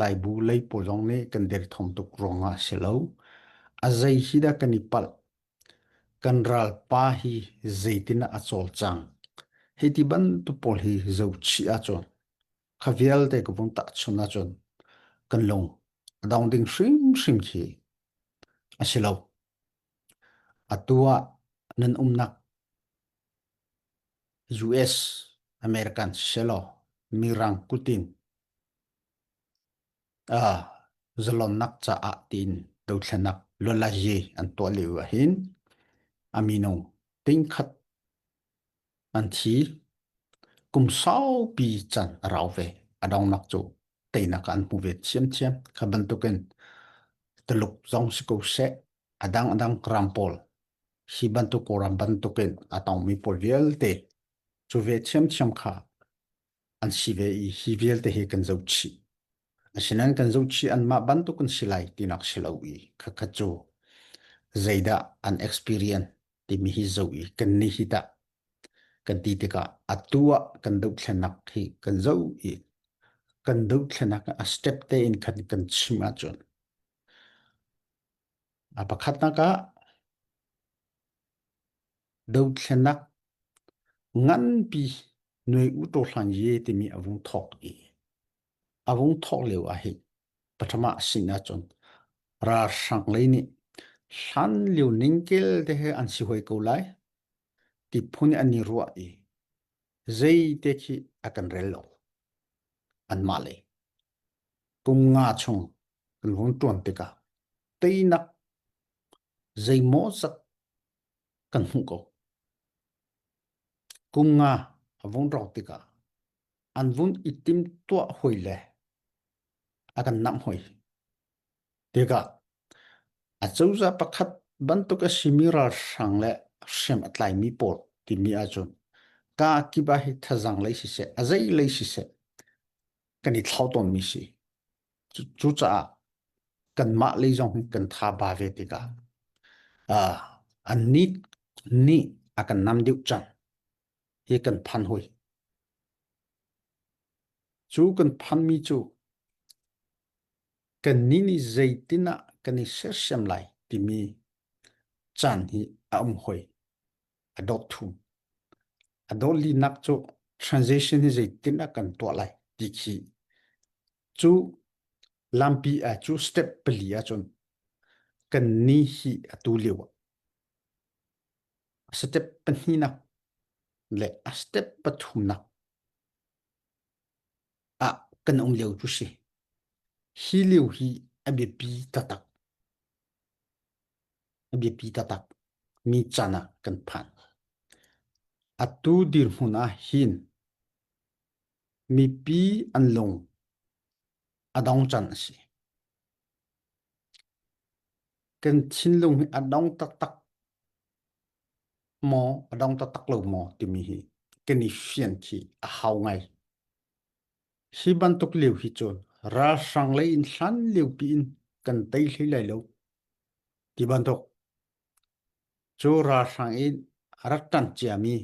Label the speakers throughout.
Speaker 1: Laibu lei pawl zong nih kan derthawm tuk ruangah a si lo. A zei hi dah kan i palh? Kan ralpa hi zeitin a cawlcang? Hi ti bantuk pawl hi zochih ahcun, kha vialte ka vung tak chun ahcun, kan lung a dong ding hrimhrim khi a si lo. Atu ah nan umnak US American si lo Mirang kutin Zalonnak caah tiin dothlenak luanlazi an tuah lio ahhin a minung tingkhat an thi. Kum saupi can a rau ve. A dongnak cu teinak an hmu ve thiamthiam. Kha bantukin taluk zong si ko seh, a dang a dang gram pawl hi bantuk koram bantukin a tongmi pawl vialte cu ve thiamthiam kha an si ve i hi vialte hi kan zoh chih. Asinain kan zoh chih anmah bantuk an si lai tinak si lo i khakhat cu zeidah an experience timi hi zoh i kan nih hi tah kan ti tikah atu ah kan dothlennak hi kan zoh i kan dothlenak a step tein kan kan chim ahcun a pakhatnak ah Dothlenak nganpi nuai utaw hlang ye timi a vung thawk i a vung thawk lio ah hi pathum ah sin ahcun ralhrang lei nih hlan lio ningkel te he an si hoi ko lai ti phun in an i ruah i zeite khi a kan rel lo anmah lei. Kum nga chung kan vung ṭuan tikah teinak Zeimaw zak kan hmuh ko. Kum nga a vung rawk tikah an vun i timtuah hoi le a kan namh hoi. Tikah a cozah pakhat bantuk a simi ralhrang le hriam a tlaimi pawl timi ahcun ka kip ah hi thazang lei siseh, a zei lei siseh kan i thlau tawnmi si. Cucaah kanmah lei zong kan tha ba ve tikah uh, an nih nih a kan nam deuh cang hi kan phan hoi. Cu kan phanmi cu kan ni nih zeitinah kan i sersiam lai timi caan hi a um hoi. a dawt thum. A dawlinak cu transition hi zeitin a kan tuah lai ti khi cu lampi a cu step pali a cun kan ni hi a tu liu a step pahnih na le a step pathum na a kan um liu cu si hi liu hi a biapi tatak a biapi taktak mi can ah kan phan. Atu dirhmun ah hin mipi an lung a dong can a si. Kan thinlung hi a dong taktak maw a dong taktak lo maw timi hi kan i fian khi a hau ngai. Hi bantuk lio hi cun ralhrang lei in hlan lio pi in kan tei hlei lai lo ti bantuk cu ralhrang in rak ṭan ciami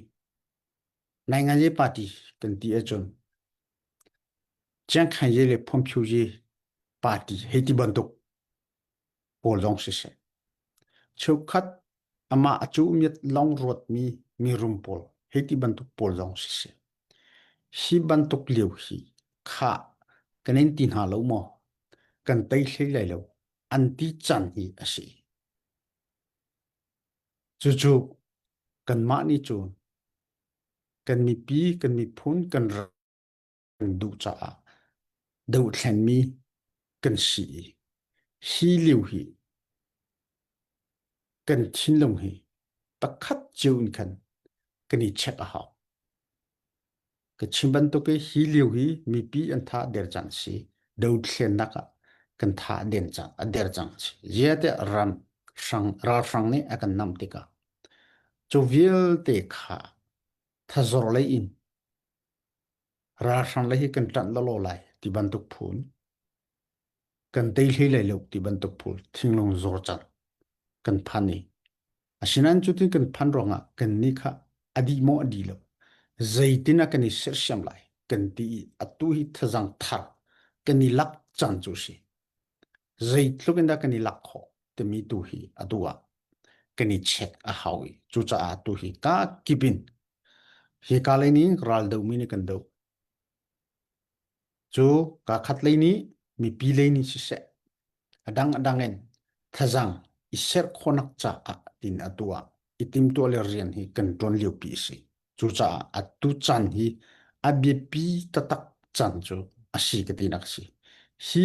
Speaker 1: Nainganye party kan ti ahcun Chiang Kai-ye le Phung Phu-ye party hei ti bantuk pawl lawng siseh, cheukhat amah a cuhmiat lawng ruatmi mirum pawl hei ti bantuk pawl lawng siseh, hi bantuk lio hi khah kan in ti hna lo maw? Kan tei hlei lai lo, an ti can hi a si. Cucu kanmah nih cun kan mipi, kan miphun, kan kan duh caah dohthlenmi kan si i hi lio hi kan thinlung hi pakhat cio in khan kan i check a hau. Ka chim bantuk i hi lio hi mipi an tha der cang si dothlennak ah kan tha den cang a der cang si ziate ram hrang ralhrang nih a kan nam tikah cu vialte kha thazor lei in ralhrang lei hi kan tlanh lawlaw lai ti bantuk phun kan tei hlei lo ti bantuk phun thinglung zor cang kan phan i asinain cutin kan phan ruangah kan ni kha adi maw adi lo zeitin a kan i sersiam lai kan ti i atu hi thazang thar kan i lak cang cu si zeitluk in dah kan i lak khawh timi tu hi a du ah kan i check a hau i cucaah tu hi ka kip in hi ka lei nih ral do mi nih kan do cu ka khat lei nih mipi lei nih siseh adang adang in thazang i serh khonak caah tin atu ah i tim tuah le rian hi kan tuan lio pi si cucaah atu chan hi a biapi taktak chan cu a si ka tinak si hi